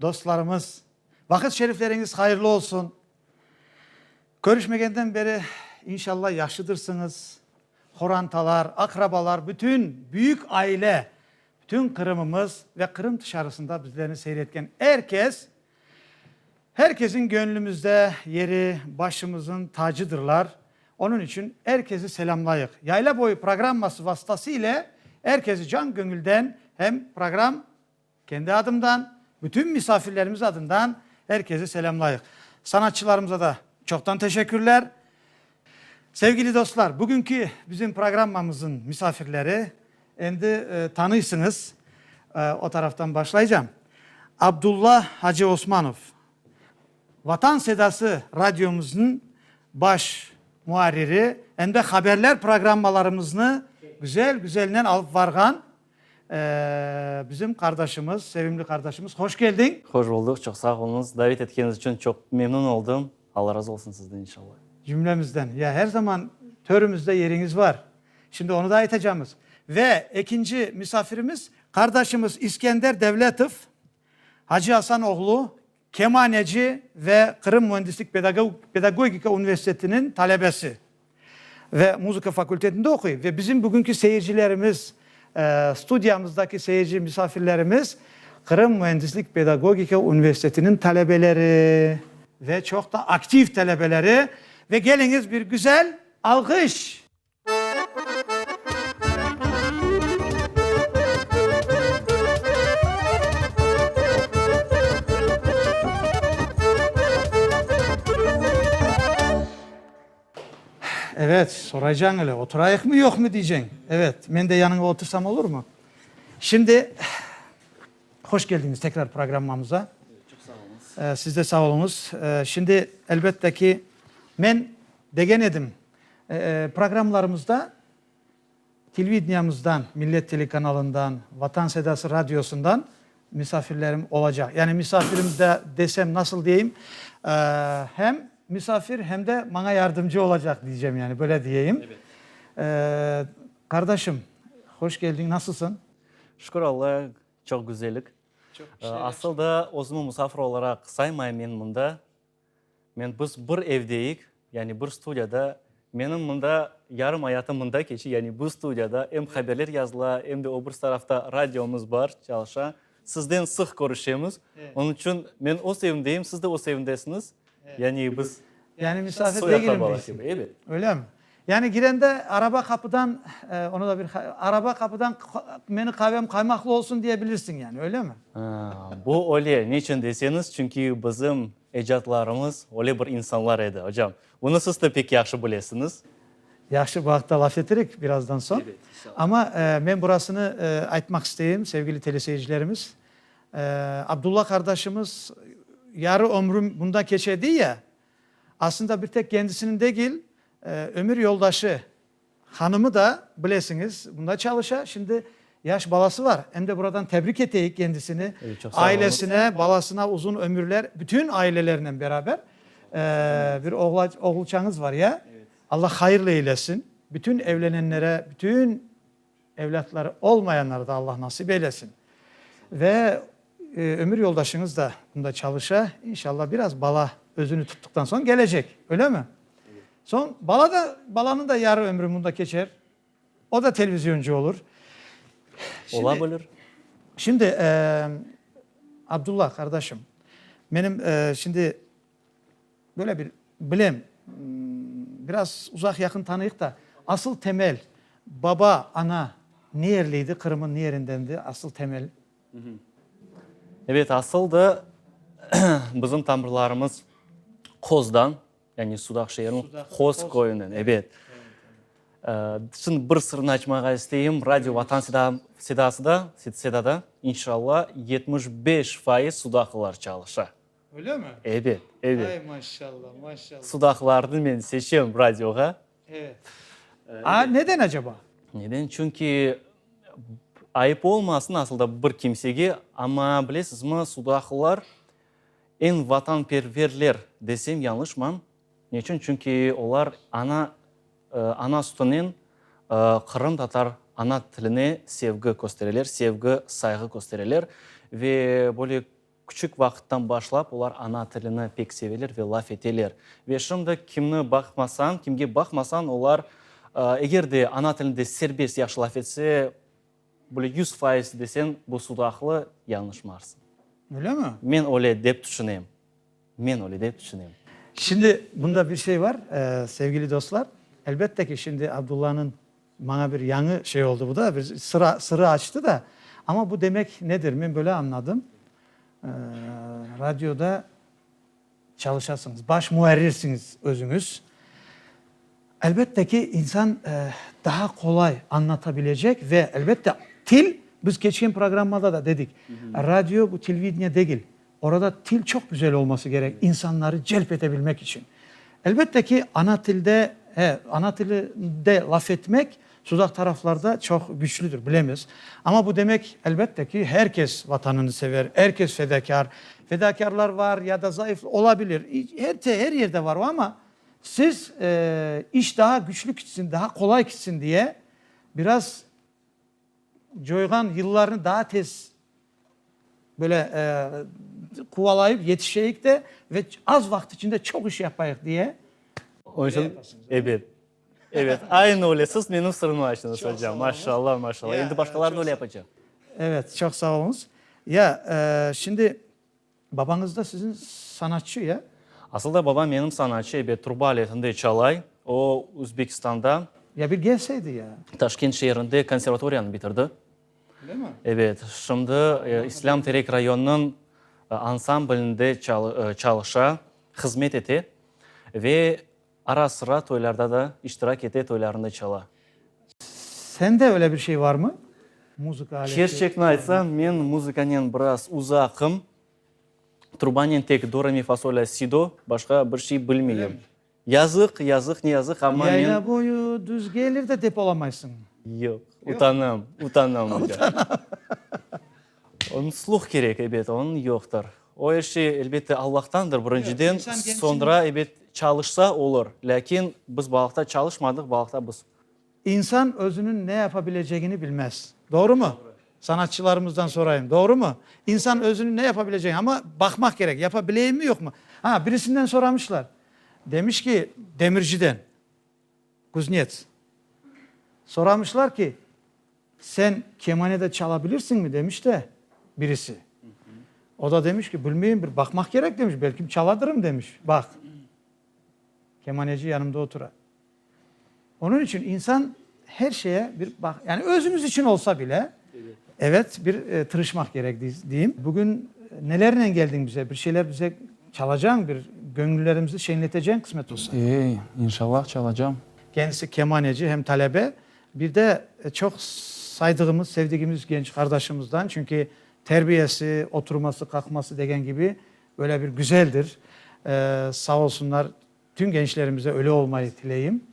Dostlarımız, vaqıt şerifleriñiz hayırlı olsun! Körüşmegenden beri, inşallah, yahşıdırsıñız. Horantalar, aqrabalar, bütün büyük aile, bütün Qırımımız ve Qırım tışarısında bizlerni seyretken er kes, her kesiñ göñlümizde yeri, başımızıñ tacıdırlar. Onıñ içün er kesi selâmlayıq. Yayla boyu programması vasıtası ile er kesi can-köñülden hem program. Kendi adımdan, bütün misafirlerimiz adından er kezi selâmlayıq. Sanatçılarımıza da çoqtan teşekkürler. Sevgili dostlar, bugünki bizim programmamızın misafirleri, endi tanıysıñız, o taraftan başlaycam. Abdulla Hacı Osmanov, Vatan Sedası Radyomıznıñ baş muarriri, em de haberler programmalarımıznı güzel-güzelnen alıp varğan Bizim qardaşımız, sevimli qardaşımız, hoş keldiñ! Hoş buldıq, çoq sağ oluñız. Davet etkeñiz içün çoq memnün oldım. Alla razı olsun sizden, inşallah. Cümlemizden. Ya, her zaman törümizde yeriñiz bar. Şimdi onı da aytacamız. Ve ekinci misafirimiz, qardaşımız İskender Devletov, Hacı Asan oğlu. kemaneci ve Qırım müendislik pedagogika universitetiniñ talebesi ve muzıka fakultetinde oquy ve bizim bugünki seyircilerimiz, studiyamızdaki seyirci misafirlerimiz Qırım müendislik pedagogika universitetiniñ talebeleri ve çoq da aktiv talebeleri ve geliñiz bir güzel alğış. Evet, soraycañ ele, oturayıqmı, yoqmı diyceñ. Evet, men de yanıña otursam olurmı? Şimdi, hoş keldiñiz tekrar programmamıza. Çoq sağ olıñız. Siz de sağ oluñız. Şimdi, elbette ki, men degen edim, Programmalarımızda televideniamızdan, Millet telekanalından, Vatan Sedası Radiosundan misafirlerim olacaq. Yani misafirim de desem, nasıl deyim, hem misafir, hem de maña yardımcı olacaq deycem yani, böyle deyeyim. Qardaşım, hoş keldiñ, nasılsıñ? Şükür Alla, çoq güzellik. Asıl da özümi musafir olaraq saymayım men mında. Men, biz bir evdeyik, yani bir studiyada. Menim mında yarım ayatım mında keçi, yani bu studiyada. Em haberler yazıla, em de o bir tarafta radiomız bar, çalışa. Sizden sıq körüşemiz. Onıñ içün men öz evimdeyim, siz de öz evindesiñiz. Yani biz soy-aqrabalar kibi. Ebet. Öylemi? Yani girende araba qapıdan, onı da bir araba qapıdan meni qavem qaymaqlı olsun diye bilirsiñ yani, öylemi? Bu öyle, neçün deseñiz, çünki bizim ecatlarımız öyle bir insanlar edi, ocam. Bunı siz de pek yahşı bilesiñiz. Yahşı, bu aqta laf etirik birazdan soñ. Amma men burasını aytmaq isteyim, sevgili teleseyircilerimiz, Abdulla qardaşımız yarı ömrüm bunda keçe, dey ya, Aslında bir tek kendisiniñ degil, ömür yoldaşı, hanımı da, bilesiñiz, bunda çalışa, şimdi yaş balası var. Em de buradan tebrik eteyik kendisini, ailesine, balasına uzun ömürler, bütün ailelerinen beraber. Bir oğulçañız var, ya? Allah hayırlı eylesin. Bütün evlenenlere, bütün. Evlâtları olmayanları da Allah nasip eylesin. Ve ömür yoldaşıñız da bunda çalışa. İnşallah biraz bala özüni tuttıqtan soñ gelecek. Öyle mi? Soñ bala da, balanıñ da yarı ömrü bunda keçer. O da televizyoncı olur. Ola bilir. Şimdi, Abdullah qardaşım, menim şimdi, Böyle bir, bilem, biraz uzaq-yaqın tanıyıq da, asıl temel, baba, ana niyerliydi, Qırım'ın niyerindendi asıl temel? Evet, asıl da bizim tamırlarımız Qoz'dan, yani Sudaq şeeriniñ Qoz köyünden, evet. Şimdi bir sırını açmağa isteyim, Radio Vatan Sedası'da, Seda'da, inşallah, yetmiş beş faiz sudaqlılar çalışa. Öylemi? Ebet, ebet. Ay, maşallah, maşallah. Sudaqlarnı men seçem radioğa. Evet. A, neden acaba? Neden? Çünki, ayıp olmasın asılda bir kimsege, amma bilesizmi, sudaqlılar eñ vatanperverler desem yañlışmam. Neçün? Çünki olar ana, ana sütünen qırımtatar ana tiline sevgi köstereler, sevgi, sayğı köstereler ve böyle, Küçük vaqıttan başlap olar ana tilini pek seveler ve laf eteler. Ve şimdi kimni baqmasañ, kimge baqmasañ, olar eger de ana tilinde serbest yahşı laf etse, böyle yüz faiz deseñ, bu sudaqlı, yañlışmarsıñ. Ölemi? Men öyle dep tüşünem. Men öyle dep tüşünem. Şimdi bunda bir şey bar, sevgili dostlar, elbette ki, şimdi Abdullanıñ Maña bir yañı şey oldı bu da, bir sıra, sırrı açtı da. Amma bu demek nedir? Men böyle añladım, radioda çalışasıñız, baş muarrirsiñiz özüñiz. Elbette ki, insan daha qolay añlatabilecek ve, elbette, til, biz keçken programmada da dedik, radio bu televideniye degil. Orada til çoq güzel olması kerek, insanları celp ete bilmek içün. Elbette ki, ana tilde, he, ana tilinde laf etmek sudaq taraflarda çoq güçlüdir, bilemiz. Amma bu demek, elbette ki, her kes Vatanını sever, er kes fedakâr. Fedakârlar var ya da zayıf, ola bilir, hepte, her yerde var o, amma siz, eee, iş daha güçlü kitsin, daha qolay kitsin diye biraz, Coyğan yıllarnı daa tez, böyle, quvalayıp yetişeyik de ve az vaqıt içinde çoq iş yapayıq, diye. Onıçün, ebet, ebet, aynı öyle, siz menim sırımı açtınız, ocam. Maşallah, maşallah. Endi başqalar da öyle yapacaq. Evet, çoq sağ oluñız. Ya, şimdi. Babañız da siziñ sanatçı, ya? Asılda babam menim sanatçı, ebet, truba aletinde çalay. O, Özbekistanda. Ya bir kelseydi, ya? Taşkent şeerinde konservatoriyanı bitirdi. Öyle mi? Ebet, şimdi İslâm Terek rayonınıñ ansamblinde çalışa, hızmet ete ve. Ara-sıra toylarda da iştirak ete, toylarında çala. Sende öyle bir şey varmı? Muzıka aleti. Çerçekni aytsañ, men muzıkanen biraz uzaqım. Trubanen tek do, re, mi, fa, sol, la, si, do, başqa bir şey bilmeyim. Yazıq, yazıq, ne yazıq, amma men. Yayla boyu düz gelir de depolamaysıñ. Yoq, utanam, utanam oca. Unutluq kerek, ebet, onıñ yoqtır. O er şey, elbette, Allahtandır, birinciden, soñra, ebet, çalışsa, olur, lâkin biz balıqta çalışmadıq, balıqta biz. İnsan özüniñ ne yapa bilecegini bilmez. Doğrumı? Sanatçılarımızdan sorayım, doğrumı? İnsan özüniñ ne yapa bilecegini, amma baqmaq kerek, yapa bileyimmi, yoqmı? Ha, birisinden soramışlar, demiş ki, demirciden, kuznets, soramışlar ki, Sen kemane de çala bilirsiñmi? demiş de birisi. O da demiş ki, bilmeyim, bir baqmaq kerek, demiş, belkim çaladırım, demiş. Baq, kemaneci yanımda otura. Onıñ içün insan her şeye bir baq, yani özüñiz içün olsa bile, evet, bir tırışmaq kerek, deyim. Bugün nelernen keldiñ bize? Bir şeyler bize çalacañ, bir göñüllerimizni şeñleteceñ, qısmet olsa. Ey, inşallah, çalacam. Kendisi kemaneci hem talebe, Bir de çoq saydığımız, sevdigimiz genç qardaşımızdan, çünki terbiyesi, oturması, qalqması degen kibi böyle bir güzeldir. Sağ olsunlar, tüm gençlerimize öyle olmayı tileyim.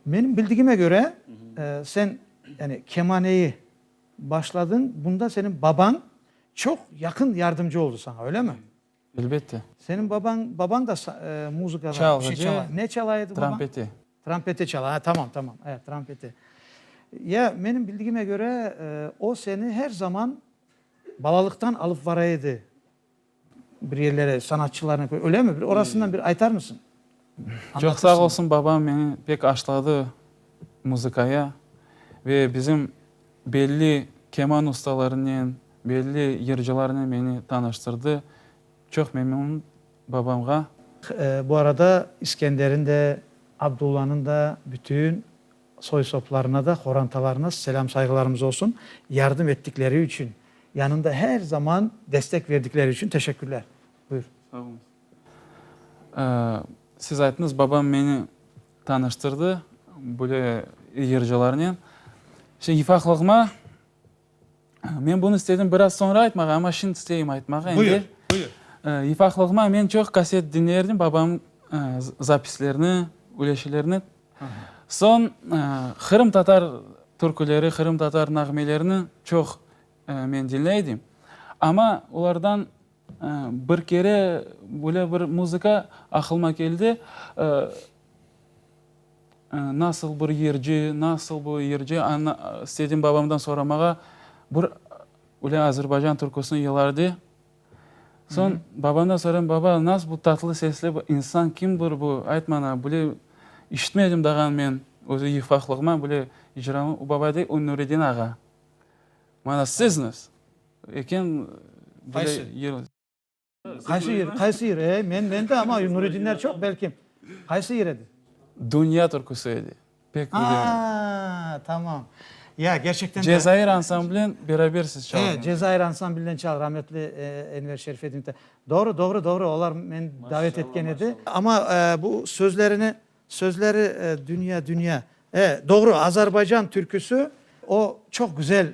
Menim bildigime köre, sen yani kemaneyi başladıñ, bunda senin babañ çoq yaqın yardımcı oldı saña, öyle mi? Elbette. Seniñ babañ, babañ da muzıka bir şey çalay. Çalğıcı. Ne çalay edi babañ? Trampeti. Trampeti çalay. Ha, tamam, tamam. E, trampeti. Ya, menim bildigime köre, o seni her zaman balalıqtan alıp baray edi bir yerlere, sanatçılarnı, ölemi? Orasından bir aytar mısıñ? Çoq sağ olsun, babam meni pek aşladı muzıkaya ve bizim belli keman ustalarınen, belli yırcılarnen meni tanıştırdı. Çoq memnunım babamğa. Bu arada İskender'in de, Abdulla'nın da, bütün soy-soplarına da, qorantalarına selâm-sayğılarımız olsun. Yardım ettikleri içün, yanında her zaman destek verdikleri içün teşekkürler. Buyur. Sağ olunız. Siz ayttıñız, babam meni tanıştırdı böyle yırcılarnen. Şimdi ifaqlığıma, men bunı istedim biraz soñra aytmağa, amma şimdi isteyim aytmağa. Buyur, buyur. İfaqlığıma men çoq kaset diñlerdim, babam zapislerini, üleşilerini. Soñ qırımtatar türküleri, qırımtatar nağmelerini çoq men diñleydim. Amma olardan Bir kere böyle bir muzıka aqılıma keldi, nasıl bir yırcı, nasıl bu yırcı, istedim babamdan soramağa, bir böyle azerbaycan türküsini yılardı. Soñ babamdan sorayım, baba, nasıl bu tatlı sesli bir insan, kimdir bu, ayt maña, böyle işitmedim dağan men, özü yıfqaqlığıma böyle icramı, o baba dey, o Nuredin ağa. Maña, sizmiz? Eken bile. Qaysı yer? Qaysı yer? Ey, men, men de ama Nuredinler çoq, belki. Qaysı yer edi? Dünya türküsü edi. Pek bilirim. Aa, tamam. Ya, gerçekten de. Cezayir ansamblen beraber siz çaldınız. He, Cezayir ansamblinden çal, rahmetli Enver Şerifedinov da. Doğru, doğru, doğru, olar meni davet etken edi. Ama bu sözlerini, sözleri dünya, dünya. He, doğru, Azerbaycan türküsü, o çoq güzel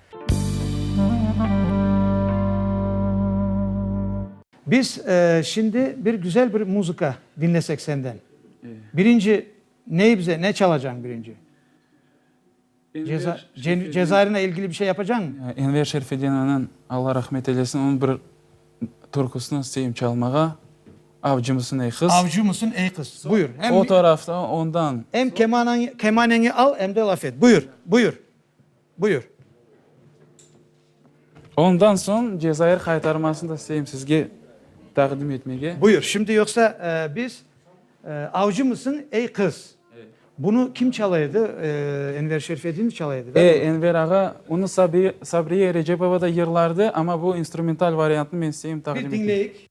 Biz şimdi bir güzel bir muzıka diñlesek senden. Birinci neyi bize, ne çalacañ birinci? Cezairine ilgili bir şey yapacañmı? Enver Şerfedinniñ, Alla rahmet eylesin, onıñ bir türküsini isteyim çalmağa, Avcı mısın ey qız? Avcı mısın ey qız? Buyur. O tarafta ondan. Em kemaneñi al, em de laf et. Buyur, buyur. Buyur. Ondan soñ Cezayir qaytarmasını da isteyim sizge taqdim etmege. Buyur. Şimdi yoqsa biz avcımısıñ, ey qız? Bunı kim çala edi? Enver Şerfedinov çala edi, da? E, Enver ağa. Onı Sabriye Recepova da yırlardı, amma bu instrumental variantını men isteyim taqdim eteyim. Bir diñleyik.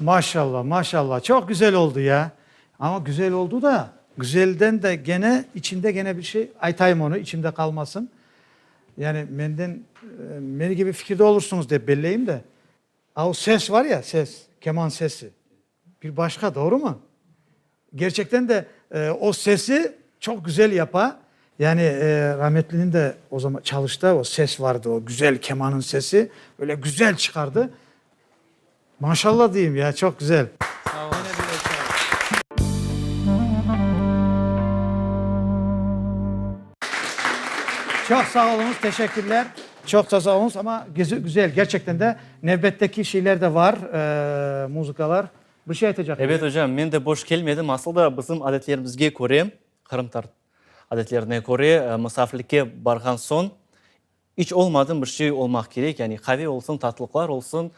Maşalla, maşalla, çoq güzel oldu ya! Amma güzel oldu da, güzelden de gene, içinde gene bir şey, aytayım onu, içimde qalmasın. Yani menden, meni kibi fikirde olursıñız dep belleyim de, a o ses var ya, ses, keman sesi. Bir başqa, doğrumı? Gerçekten de o sesi çoq güzel yapa. Yani rahmetliniñ de o zaman çalışta o ses vardı, o güzel kemanıñ sesi. Böyle güzel çıqardı. Maşallah deyim ya, çoq güzel. Sağ olun. Çoq sağ oluñız, teşekkürler. Çoq sağ oluñız, amma güzel, gerçekten de. Nevbetteki şeyler de var, muzıkalar. Bir şey aytacaq ediñ. Evet, ocam, men de boş kelmedim. Asıl da bizim adetlerimizge köre, qırımtatar adetlerine köre, musafirlikke barğan soñ iç olmadım bir şey olmaq kerek, yani qave olsun, tatlılıqlar olsun.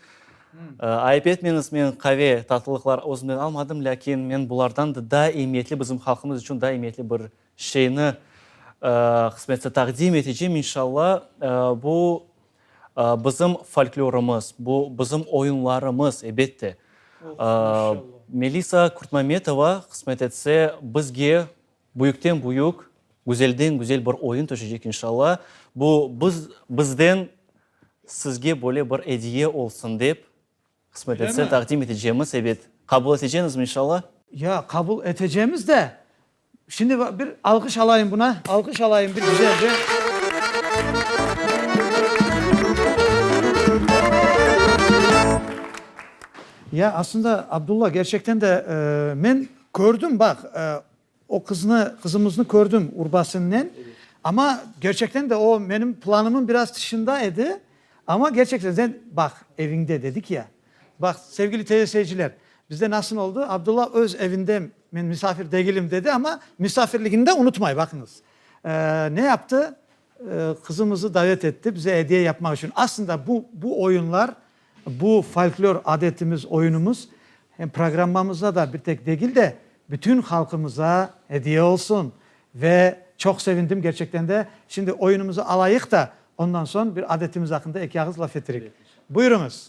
Ayıp etmeñiz, men qave, tatlılıqlar özümnen almadım, lâkin men bulardan da daa emiyetli, bizim halqımız içün daa emiyetli bir şeyni qısmetse taqdim etecem, inşallah. Bu Bizim folklorımız, bu bizim oyunlarımız, ebette. Melisa Kurtmametova, qısmet etse, bizge büyükten-büyük, güzelden-güzel bir oyun tüşecek, inşalla. Bu, biz, bizden sizge böyle bir ediye olsun dep. Qısmet etse, taqdim etecemiz, ebet. Qabul etecenizmi, inşalla? Ya, qabul etecemiz de. Şimdi bir alqış alayım buna, alqış alayım bir Ya, aslında, Abdulla, gerçekten de men kördim, baq, O qıznı, qızımıznı kördim Urbasınnen. Amma kerçekten de o menim planımın biraz tışında edi. Amma kerçekten de sen baq, eviñde dedik ya. Baq, sevgili TV seyirciler, bizde nasıl oldı? Abdulla öz evinde men misafir degilim dedi, amma misafirligini de unutmay, baqıñız. Ne yaptı? Qızımızı davet etti, bize ediye yapmaq içün. Aslında bu, bu oyunlar, bu folklor adetimiz, oyunumız hem programmamızda da bir tek degil de, bütün halqımıza ediye olsun. Ve çoq sevindim gerçekten de. Şimdi oyunumızı alayıq da, ondan soñ bir adetimiz aqqında eki ağız laf ettirik. Buyurıñız.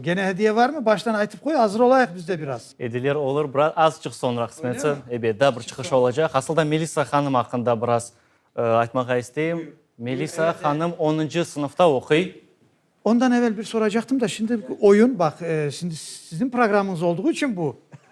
Gene hediye varmı? Baştan aytıp qoy, azır olayıq biz de biraz. Ediler olur, biraz azıcıq soñra qısmetse. Ebet, daa bir çıqış olacaq. Asıl da Melisa hanım aqqında biraz aytmağa isteyim. Melisa hanım onıncı sınıfta oquy. Ondan evel bir soracaqtım da, şimdi oyun, baq, şimdi sizin programıñız olduğu içün bu.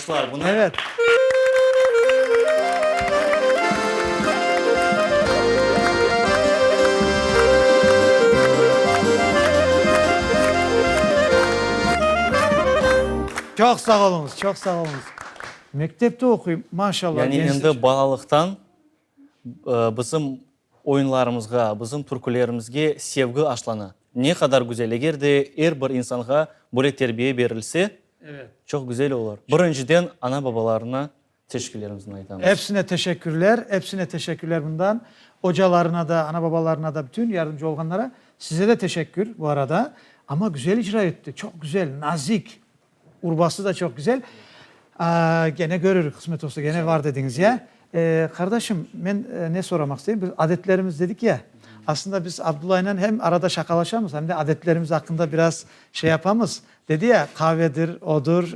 alqışlar buna. Evet. Çoq sağ oluñız, çoq sağ oluñız. Mektepte oquy, maşallah. Yani endi balalıqtan bizim Oyunlarımızğa, bizim türkülerimizge sevgi aşlanı ne qadar güzel. Eger de er bir insanğa böyle terbiye berilse, çoq güzel olur. Birinciden ana-babalarına teşekkürlerimizni aytamız. Epsine teşekkürler, epsine teşekkürler bundan. Ocalarına da, ana-babalarına da, bütün yardımcı olğanlara. Size de teşekkür bu arada. Amma güzel icra etti, çoq güzel, nazik. Urbası da çoq güzel. Gene görürük, qısmet olsa gene var dediñiz, ya. Qardaşım, men ne soramaq isteyim, biz adetlerimiz dedik ya, aslında biz Abdullaynen hem arada şaqalaşamız, hem de adetlerimiz aqqında biraz şey yapamız. Dedi ya, qavedir, odur,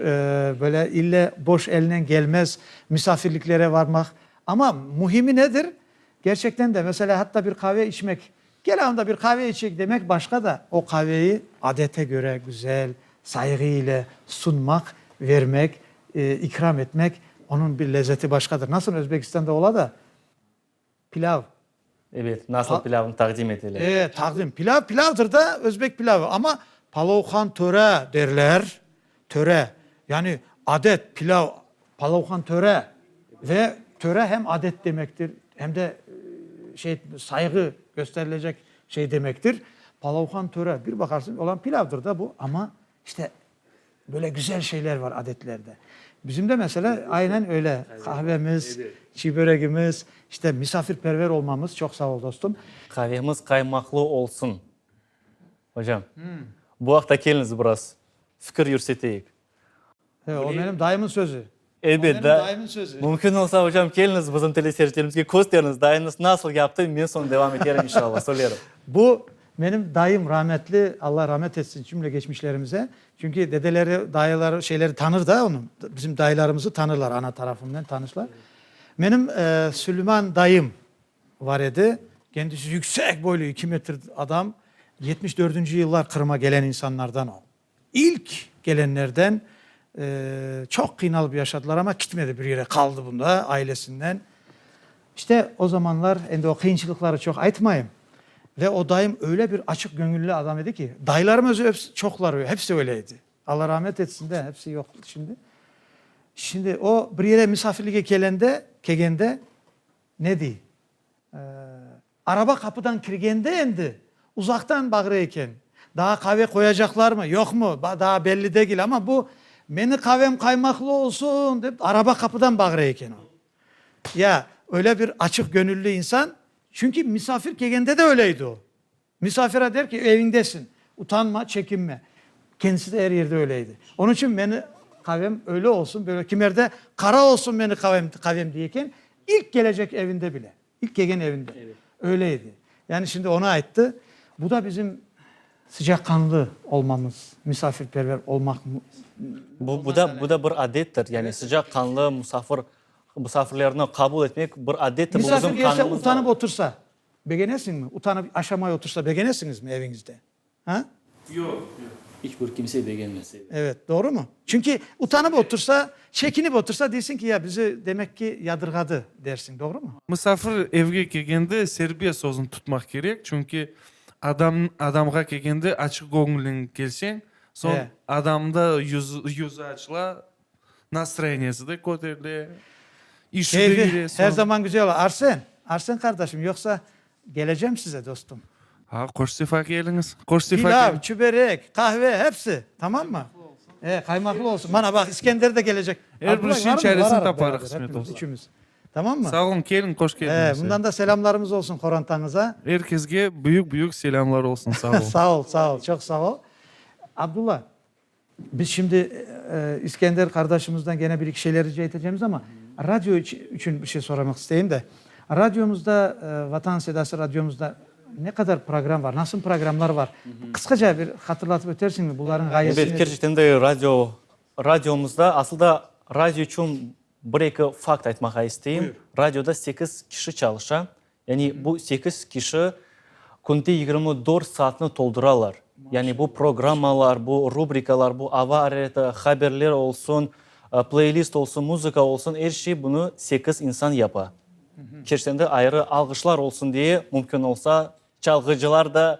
böyle ille boş elnen gelmez, misafirliklere varmaq. Amma mühimi nedir? Gerçekten de, mesela, hatta bir qave içmek Kel anda bir qave içek demek başqa da, o qaveyi adete köre güzel, sayğı ile sunmaq, vermek, ikram etmek, onıñ bir lezzeti başqadır. Nasıl Özbekistanda ola da, pilav. Ebet, nasıl pilavnı taqdim etele. E, taqdim. Pilav pilavdır da, özbek pilavı. Amma palovhan töre derler. Töre, yani adet, pilav. Palavhan töre ve töre hem adet demektir, hem de şey, sayğı kösterilecek şey demektir. Palavhan töre, bir baqarsıñ, olam pilavdır da bu, amma işte böyle güzel şeyler var adetlerde. Bizim de mesela aynen öyle, qahvemiz, çiy böregimiz, işte misafirperver olmamız. Çoq sağ ol, dostum. Qavemiz qaymaqlı olsun. Ocam, bu aqta keliñiz biraz fikir yürseteyik. He, o menim dayımnıñ sözü. Elbet, da, mümkün olsa, ocam, keliñiz bizim teleseyircilerimizge kösteriñiz, dayıñız nasıl yaptı, men soñ devam eterim, inşallah, söylerim. Bu menim dayım, rahmetli, Alla rahmet etsin cümle geçmişlerimize. Çünki dedeleri, dayıları, şeyleri tanır da onıñ, bizim dayılarımızı tanırlar, ana tarafınen tanışlar. Menim Süleyman dayım. Var edi. Kendisi yüksek boylu, iki metr adam. Yetmiş dördünci yıllar Qırım'a gelen insanlardan o. İlk gelenlerden. Çoq qıynalıp yaşadılar, amma kitmedi bir yere, qaldı bunda ailesinden. İşte o zamanlar, endi o qıyınçılıqları çoq aytmayım. Ve o dayım öyle bir açıq göñülli adam edi ki, dayılarım özü hepsi, çoqları, hepsi öyle edi. Allah rahmet etsin de, hepsi yoq şimdi. Şimdi o bir yere misafirlige kelende, kelgende, Ne dey? Araba qapıdan kirgende endi uzaqtan bağıra eken. Daa qave qoyacaqlarmı, yoqmı, daa belli degil, amma bu, Meni qavem qaymaqlı olsun! dep, araba qapıdan bağıra eken o. Ya, öyle bir açıq göñülli insan, çünki misafir kelgende de öyleydi o. Misafire der ki, eviñdesiñ, utanma, çekinme. Kendisi de er yerde öyle edi. Onıñ içün meni qavem öyle olsun, böyle, kimerde qara olsun meni qavem, qavem diye eken, ilk kelecek evinde bile, ilk kelgen evinde öyle edi. Yani şimdi onı ayttı. Bu da bizim sıcaqanlı olmamız, misafirperver olmaq. Bu, bu da, bu da bir adettir. Yani sıcaqanlı, musafir, musafirlerni qabul etmek bir adettir. Misafir gelse, utanıp otursa, Begenesiñmi? Utanıp aşamay otursa begenesiñizmi eviñizde? Ha? Yoq, yoq. İç bir kimse begenmez, evet. Evet, doğrumı? Çünki utanıp otursa, çekinip otursa deysiñ ki, ya bizi demek ki yadırğadı dersiñ, doğrumı? Musafir evge kelgende serbiye sözüni tutmaq kerek, çünki adam adamğa kelgende açıq göñülleñ kelseñ, soñ adamda yüz yüzü açıla, Nastroyeniyesi de köterile, işi de yürüye soñ. Keyfi her zaman güzel ola. Arsen, Arsen qardaşım, yoqsa kelecem size, dostum. Ha, qoş sefa keliñiz. Qoş sefa keliñiz. Pilav, çüberek, qahve, hepsi. Tamammı? E, qaymaklı olsun. Mana, baq, İskender de kelecek. Er bir işin çaresini taparıq, qısmet olsa. Üçümiz. Tamammı? Sağ olun, keliñ, qoş keldiñiz. E, bundan da selâmlarımız olsun qorantañıza. Er kesge büyük-büyük selâmlar olsun. Sağ olun. Sağ ol, sağ ol, çoq sağ ol. Abdulla, Biz şimdi İskender qardaşımızdan gene bir-iki şeyler rica etecemiz, amma radio içün bir şey soramaq isteyim de, radiomızda, Vatan Sedası radiomızda ne qadar program bar, nasıl programlar bar? Qısqaca bir hatırlatıp ötersiñmi, bularnıñ ğayesi nedir? Elbet, kerçekten de radio, radiomızda, asılda radio içün bir-eki fakt aytmağa isteyim. Buyur. Radioda sekiz kişi çalışa, Yani bu sekiz kişi künde yigirmi dört saatni tolduralar. Yani bu programmalar, bu rubrikalar, bu ava areti, haberler olsun, playlist olsun, muzıka olsun, er şey bunı sekiz insan yapa. Kerçen de ayrı alğışlar olsun diye, mümkün olsa çalğıcılar da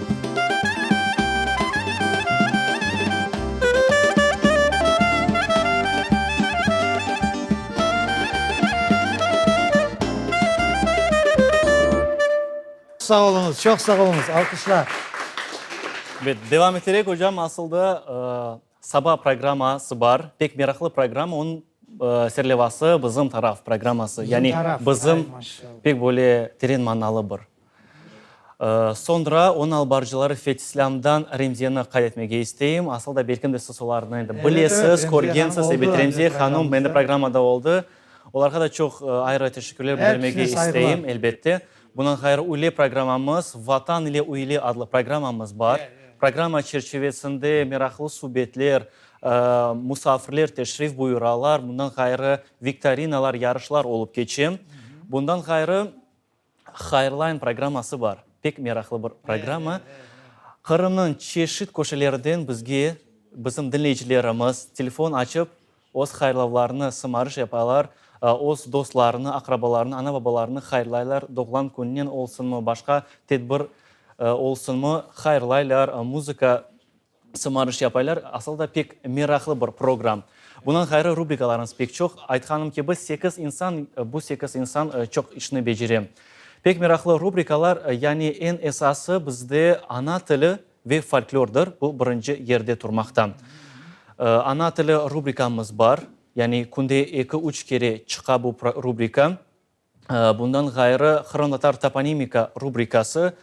Sağ oluñız, çoq sağ oluñız! Alqışlar! Bet, devam eterek, ocam, asıl da, Saba programma sı bar, pek meraqlı programma, onıñ serlevası Bizim taraf programması, yani Bizim pek böyle teren manalı bir. Soñra onıñ alıp barıcıları Fetslâmdan Remziyeni qayd etmege isteyim, asıl da belkim de siz olarnı endi bilesiz, körgensiz, ebet Remziye hanım mende programmada oldı, olarğa da çoq ayrı teşekkürler bildirmege isteyim, elbette. Bundan ğayrı üyle programmamız, Vatan ile üyle adlı programmamız bar. Programma çerçivesinde meraqlı subetler, musafirler teşrif buyuralar, bundan ğayrı viktorinalar, yarışlar olıp keçe. Bundan ğayrı Hayırlayn programması bar, pek meraqlı bir programma. Qırımnıñ çeşit köşelerinden bizge bizim diñleyicilerimiz telefon açıp, Öz hayırlavlarını sımarış yapalar, öz dostlarını, aqrabalarını, ana-babalarını hayırlaylar, doğğlan kününen olsunmı, başqa tedbir olsunmı, hayırlaylar, muzıka sımarış yapaylar, asıl da pek meraqlı bir program. Bundan ğayrı rubrikalarıñız pek çoq, aytqanım kibi, sekiz insan, bu sekiz insan çoq işni becere. Pek meraqlı rubrikalar, yani eñ esası bizde ana tili, Ve folklordır, bu birinci yerde turmaqta. Ana tili rubrikamız bar, yani künde eki-üç kere çıqa bu rubrika. Bundan ğayrı Qırımtatar toponimika rubrikası,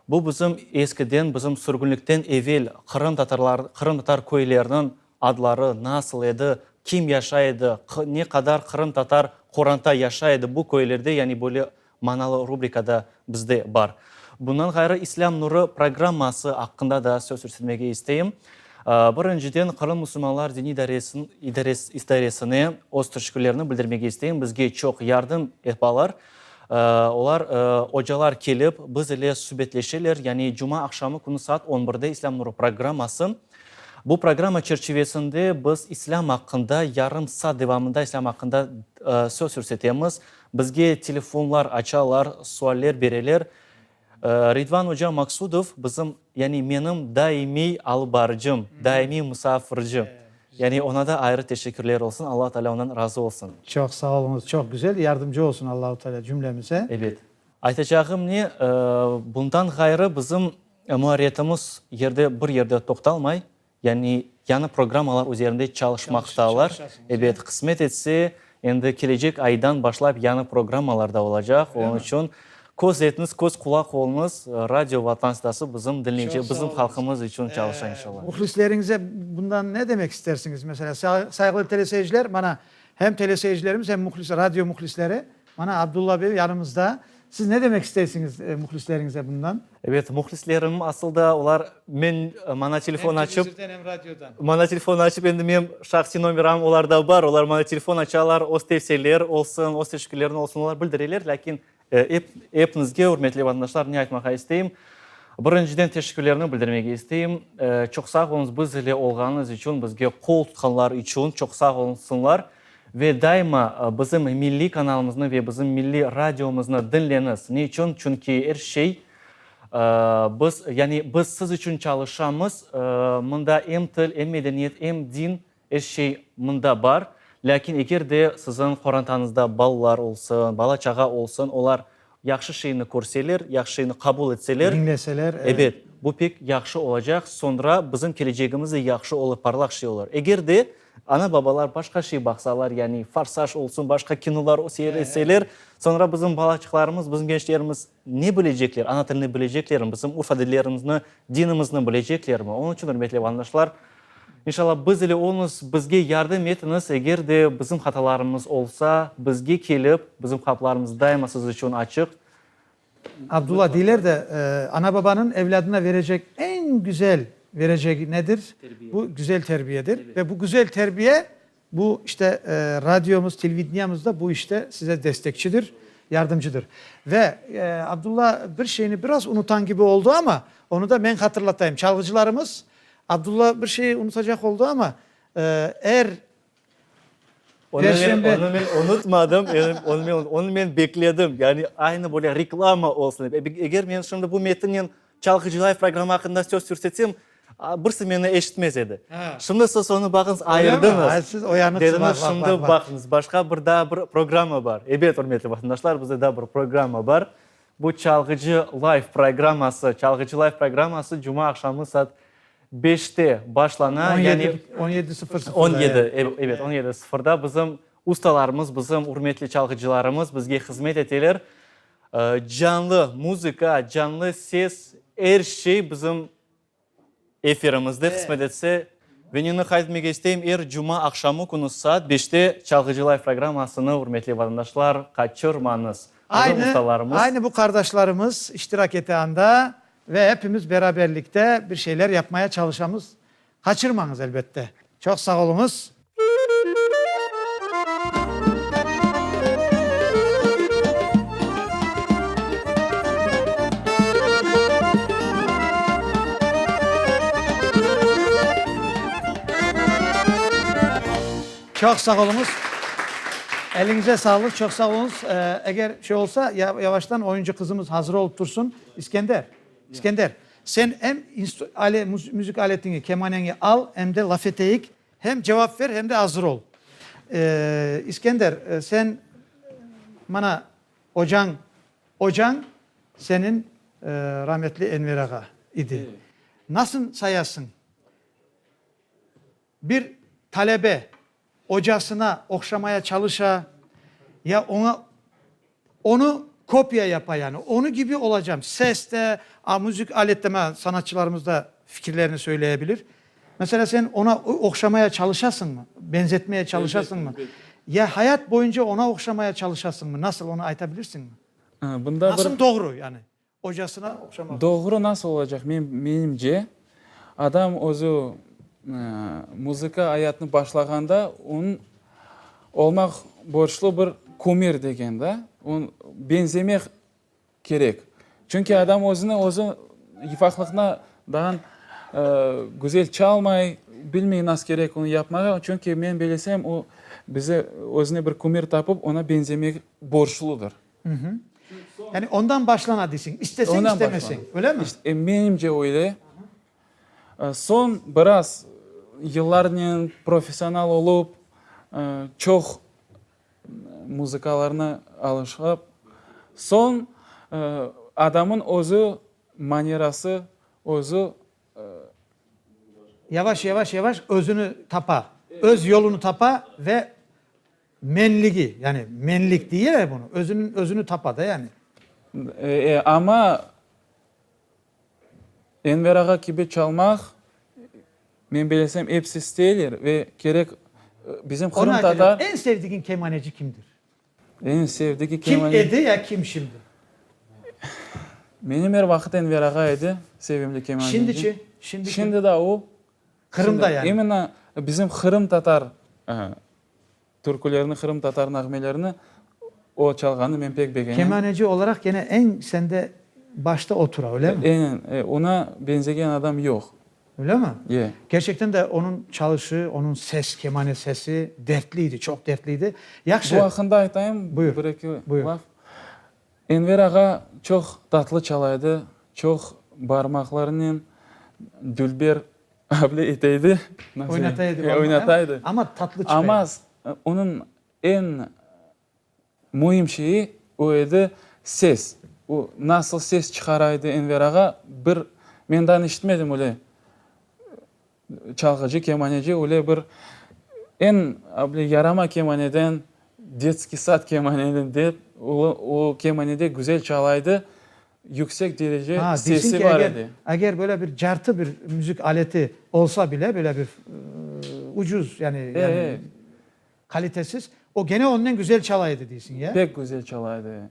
bu bizim eskiden, bizim sürgünlikten evel qırımtatarlar, qırımtatar köyleriniñ adları nasıl edi, kim yaşay edi, ne qadar qırımtatar qoranta yaşay edi bu köylerde, yani böyle manalı rubrikada bizde bar. Bundan ğayrı, İslâm Nurı programması aqqında da söz yürsetmege isteyim. Birinciden, Qırım musulmanlar diniy idaresine öz teşekkürlerini bildirmege isteyim. Bizge çoq yardım epalar. Olar, ocalar kelip, biz ile subetleşeler. Yani cuma aqşamı künü saat on birde İslâm Nurı programması. Bu programma çerçivesinde biz İslâm aqqında yarım saat devamında İslâm aqqında söz yürsetemiz. Bizge telefonlar açalar, sualler bereler. Ridvan oca Maqsudov bizim, yani menim daimiy alıp barıcım, daimiy musafirci. Yani oña da ayrı teşekkürler olsun, Alla Taalâ ondan razı olsun. Çoq sağ oluñız, çoq güzel, yardımcı olsun Allahu Taalâ cümlemize. Ebet. Aytacağım ne, bundan ğayrı bizim muarretimiz yerde, bir yerde toqtalmay, Yani yañı programmalar üzerinde çalışmaqtalar. Ebet, qısmet etse, endi kelecek aydan başlap yañı programmalar da olacaq. Onıñ içün köz etiñiz, köz qulaq oluñız, Radio Vatan Sdası bizim diñleyci, bizim halqımız içün çalışa, inşallah. Muhlisleriñize bundan ne demek istersiñiz? Meselâ, sayğılı teleseyirciler, mana, hem teleseyircilerimiz, hem muhlis, radio muhlisleri Mana, Abdulla bey yanımızda. Siz ne demek isteysiñiz mühlisleriñize bundan? Ebet, mühlislerim, asıl da olar men, maña telefon açıp. Em televizordan, em radiodan. Maña telefon açıp, endi menim şahsiy nomeram olarda bar, olar maña telefon açalar, öz tevsiyeleri olsun, öz teşekkürlerini olsun, olar bildireler, lâkin ep, epinizge, ürmetli vatandaşlar, ne aytmağa isteyim, birinciden, teşekkürlerimi bildirmege isteyim, çoq sağ oluñız, biz ile olğanıñız içün, bizge qol tutqanlar içün çoq sağ olsunlar. Ve daima bizim milliy kanalımıznı ve bizim milliy radiomıznı diñleniz. Ne içün? Çünki er şey biz, yani biz siz içün çalışamız. Mında em til, em medeniyet, em din, er şey mında bar. Lâkin eger de siziñ qorantanızda balalar olsun, bala-çağa olsun, olar. Yahşı şeyni körseler, yahşı şeyni qabul etseler. Diñleseler, evet. Ebet, bu pek yahşı olacaq, soñra bizim kelecegimiz de yahşı olur, parlaq şey olur. Eger de ana-babalar başqa şey baqsalar, yani Forsaj olsun, başqa kinolar seyretseler, soñra bizim balaçıqlarımız, bizim gençlerimiz ne bilecekler? Ana tilini bileceklermi? Bizim urf-adetlerimizni, dinimizni bileceklermi? Onıñ içün, ürmetli vatandaşlar, İnşallah biz ile olunız, bizge yardım etiñiz, eger de bizim hatalarımız olsa, bizge kelip, bizim qapılarımız daima siz içün açıq. Abdullah, deyler de, ana-babanıñ evlâdına verecek eñ güzel verecegi nedir? Bu güzel terbiyedir ve bu güzel terbiye Bu, işte, radiomız, televideniemiz da bu işte size destekçidir, yardımcıdır. Ve Abdulla bir şeyni biraz unutan kibi oldu, ama onı da men hatırlatayım. Çalğıcılarımız, Abdulla bir şeyi unutacaq oldu, ama er perşembe. Onı men unutmadım, onı men bekledim. Yani aynı böyle reklama olsun. Eger men şimdi bu metinnen Çalğı Celayev programmı aqqında söz sürsetsem, birisi meni eşitmez edi. Şimdi siz onı baqıñız, ayırdıñız, dediniz, şimdi baqıñız, başqa bir daa bir programma bar. Ebet, ürmetli vatandaşlar, bizde daa bir programma bar. Bu Çalğı Celayev programması, Çalğı Celayev programması cuma aqşamı saat beşte başlana. On yedi, on yedi sıfır sıfırda. On yedi, ebet, on yedi sıfırda bizim ustalarımız, bizim ürmetli çalğıcılarımız bizge hızmet eteler. Canlı muzıka, canlı ses, er şey bizim efirimizde qısmet etse. Ve neni qayd etmek isteyim, er cuma aqşamı künü saat beşte Çalğıcı Live programmasını, ürmetli vatandaşlar, qaçırmañız. Bizim ustalarımız. Aynı bu qardaşlarımız iştirak ete anda ve epimiz beraberlikte bir şeyler yapmaya çalışamız. Qaçırmañız, elbette. Çoq sağ oluñız. Çoq sağ oluñız. Eliñize sağlıq, çoq sağ oluñız. Eger şey olsa, yavaştan oyuncı qızımız hazır olıp tursın. İskender. İskender, sen em ale, müzik aletiñi, kemaneñi al, em de laf eteyik, hem cevap ver, hem de azır ol. İskender, sen mana ocañ, ocañ senin rametli Enver ağa idi. Nasıl sayasıñ? Bir talebe ocasına oqşamaya çalışa, ya oña onı kopiya yapa, yani onı kibi olacam, ses de, a, müzik alet de, mana sanatçılarımız da fikirlerini söyleye bilir. Mesela sen ona oqşamaya çalışasıñmı, benzetmeye çalışasıñmı, ya hayat boyunca ona oqşamaya çalışasıñmı, nasıl, onı ayta bilirsiñmi? Bunda bir. Nasıl doğru, yani? ocasına oqşamaq. Doğru nasıl olacaq? Men, menimce, adam özü muzıka ayatını başlağanda onıñ olmaq borclu bir kumir degen da, on benzemek kerek. Çünki adam özüni özü ifaqlıqna daan güzel çalmay, bilmey nas kerek onı yapmağa, çünki men bilesem o bize özüne bir kumir tapıp, ona benzemek borcludır. Mhü. Yani ondan başlana deyseń, isteseñ, istemeseñ, öylemi? İşte, menimce öyle. Soñ biraz yıllarnen professional olup, çoq muzıkalarnı alışıp, soñ adamnıñ özü manirası, özü. Yavaş, yavaş, yavaş özüni tapa, öz yolunı tapa ve Menligi, yani menlik diye ya bunu, özüniñ, özüni tapa da yani. E, amma Enver ağa kibi çalmaq, men bilesem, episi isteyler ve kerek bizim Qırım Ona tatar... aytacağım, en sevdiğin kemaneci kimdir? En sevdiği Kim kemane... edi ya kim şimdi? Menim er vaqıt Enver ağa edi, sevimli kemaneci. Şimdiçi, şimdi kim? Şimdi da o. Qırımda yani. Imенно bizim Qırım Tatar türkülerini, Qırım Tatar nağmelerini o çalğanı men pek begenem. Kemaneci olaraq gene eñ sende başta o tura, öylemi? Eñen, ona benzegen adam yoq. Öylemi? Ye. Kerçekten de onıñ çalışı, onıñ ses, kemane sesi dertliydi, çoq dertliydi. Yahşı. Bu aqqında aytayım bir-eki laf. Enver ağa çoq tatlı çalaydı, çoq barmaqlarınen dülber able eteydi, oynataydı. Amma onıñ eñ müim şeyi o edi, ses. O nasıl ses çıqaraydı Enver ağa, bir, men dan eşitmedim öyle. Çalğıcı kemaneci öyle bir eñ böyle yarama kemaneden, detskiy sad kemaneden dep, o kemanede güzel çalaydı, yüksek derece sesi bar edi. Eger böyle bir cartı bir müzik aleti olsa bile, böyle bir ucuz, yani, Qalitesiz. O gene onnen güzel çala edi deysiñ, ya? Pek güzel çala edi.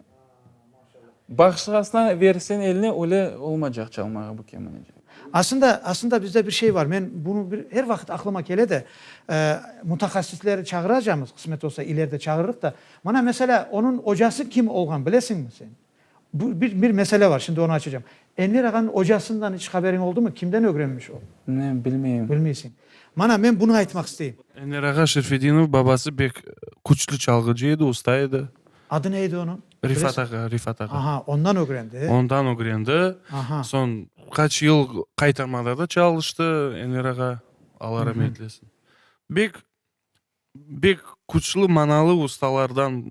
Başqasına bersen eline, öyle olmacaq çalmağa bu kemaneci. Asında, asında bizde bir şey bar, men bunu bir er vaqıt aqlıma kele de, mutahassisleri çağıracamız, qısmet olsa, ileride çağırırıq da. Mana, meselâ, onıñ ocası kim olğan bilesiñmi sen? Bu bir, bir mesele var, şimdi onı açacağım. Enver ağanıñ ocasından iç haberiñ oldumı? Kimden ögrenmiş o? Ne, bilmeyim. Bilmeysiñ. Mana, men bunı aytmaq isteyim. Enver ağa Şerfedinov babası bek küçlü çalğıcı edi, usta edi. Adı ne edi onıñ? Rifat ağa, Rifat ağa. Aha, ondan ögrendi. Ondan ögrendi. Aha. Soñ qaç yıl qaytarmada da çalıştı Enver ağa, Alla ramet eylesin. Bek Bek küçlü manalı ustalardan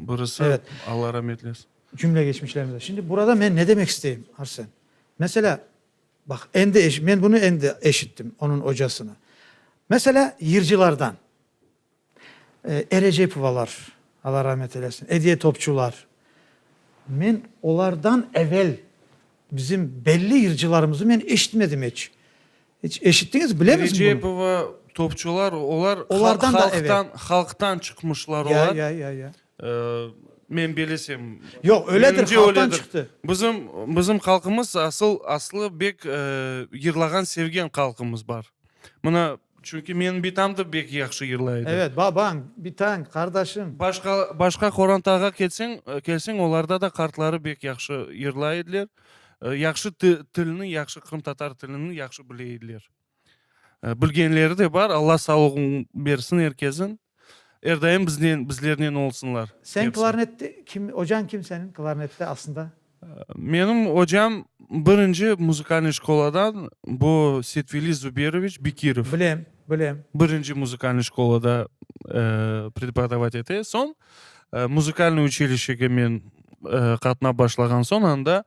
birisi, Allah ramet eylesin. Cümle geçmişlerimize. Şimdi burada men ne demek isteyim, Arsen? Meselâ, baq, endi, men bunı endi eşittim, onıñ ocasını. Meselâ, yırcılardan, E. Recepovalar, Allah ramet eylesin, Ediye Topçular, men olardan evel bizim belli yırcılarımızı men eşitmedim eç. Hiç eşittiñiz, bilemizmi bunı? Recepova, topçular, olar halqtan, halqtan çıqmışlar olar. Ya, ya, ya, ya. Men belesem. Yoq, öyledir, halqtan çıqtı. Bizim, bizim halqımız asıl, aslı bek yırlağan, sevgen halqımız bar. Mına, çünki menim bitañ da bek yahşı yırlay edi. Evet, babañ, bitañ, qardaşıñ. Başqa, başqa qorantağa kelseñ, kelseñ, olarda da qartları bek yahşı yırlay ediler. yahşı tilni, yahşı qırımtatar tilini yahşı bile ediler. Bilgenleri de bar, Alla sağlığın bersin er kesin. Er daim biznen, bizlernen olsunlar. Sen klarnette kim, ocan kim senin klarnette aslında? Menim ocam birinci muzıkalnıy şkoladan bu Setveli Zuberoviç Bekirov. Bilem, bilem. Birinci muzıkalnıy şkolada prepodovat ete. Soñ Muzıkalnıy uçilişege men qatnap başlağan soñ anda,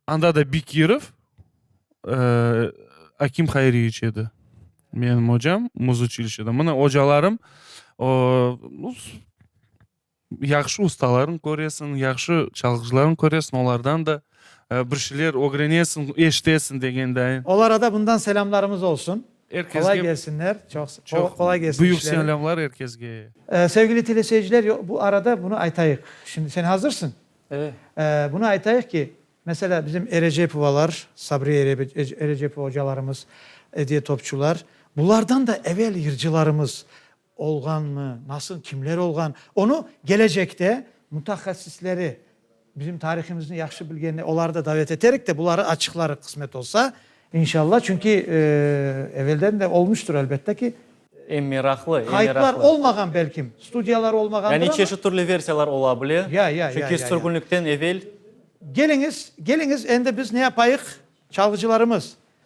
anda da Bekirov Akim Hayriyeviç edi, menim ocam, muz uçilişede. Mına ocalarım, yahşı ustalarnı köresiñ, yahşı çalğıcılarnı köresiñ, olardan da bir şeyler ögrenesiñ, eşitesiñ degendayin. Olarada bundan selâmlarımız olsun. Qolay kelsinler, çoq qolay kelsin işleri. Büyük selâmlar er kesge. Sevgili teleseyirciler, bu arada bunı aytayıq. Şimdi sen hazırsıñ. Bunı aytayıq ki, meselâ, bizim Erecepovalar, Sabriye Erecepova ocalarımız, Ediye Topçular, bulardan da evel yırcılarımız olğanmı, nasıl, kimler olğan, onı gelecekte mutahassisleri, bizim tarihımıznı yahşı bilgenler, oları da davet eterik de, buları açıqlarıq, qısmet olsa. İnşallah, çünki evelden de olmuştur, elbette ki. Em meraqlı, em meraqlı. Qayıtlar olmağan, belkim, studiyalar olmağandır ama. Yani çeşit türlü versiyalar ola bile. Ya, ya, ya, ya. Çünki sürgünlikten evel. Geliñiz, geliñiz, endi biz ne yapayıq, çalğıcılarımız?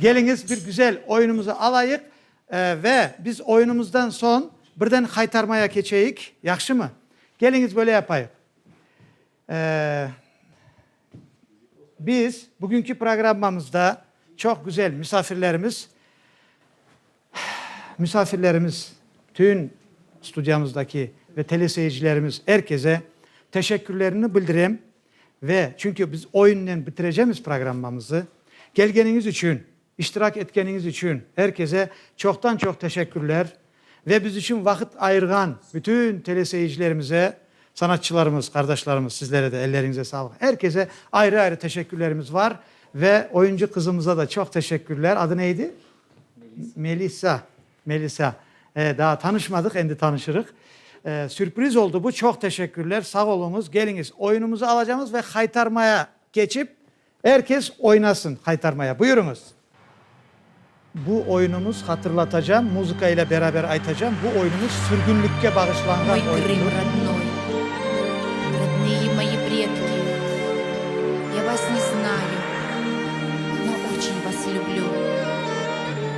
Keliñiz, bir güzel oyunumızı alayıq ve biz oyunumızdan soñ birden haytarmaya keçeyik, yahşımı? Keliñiz, böyle yapayıq. Biz bugünki programmamızda çoq güzel misafirlerimiz, misafirlerimiz, tün studiyamızdaki ve teleseyircilerimiz, er keze teşekkürlerimni bildirem, Ve, çünki biz oyunnen bitirecemiz programmamızı. Kelgeniñiz içün, iştirak etkeniñiz içün her kese çoqtan-çoq teşekkürler. Ve biz içün vaqıt ayırğan bütün teleseyircilerimize, sanatçılarımız, qardaşlarımız, sizlere de elleriñize sağlıq. Her kese ayrı-ayrı teşekkürlerimiz var. Ve oyuncı qızımıza da çoq teşekkürler. Adı ne idi? Melisa. Melisa, E, daa tanışmadıq, endi tanışırıq. E, sürpriz oldı bu, çoq teşekkürler, sağ oluñız. Keliñiz, oyunumızı alacağımız ve haytarmaya keçip, er kes oynasın haytarmaya. Buyurıñız. Bu oyunumız, hatırlatacağım, muzıka ile beraber aytacağım, bu oyunumız sürgünlikke bağışlanğan oyundır.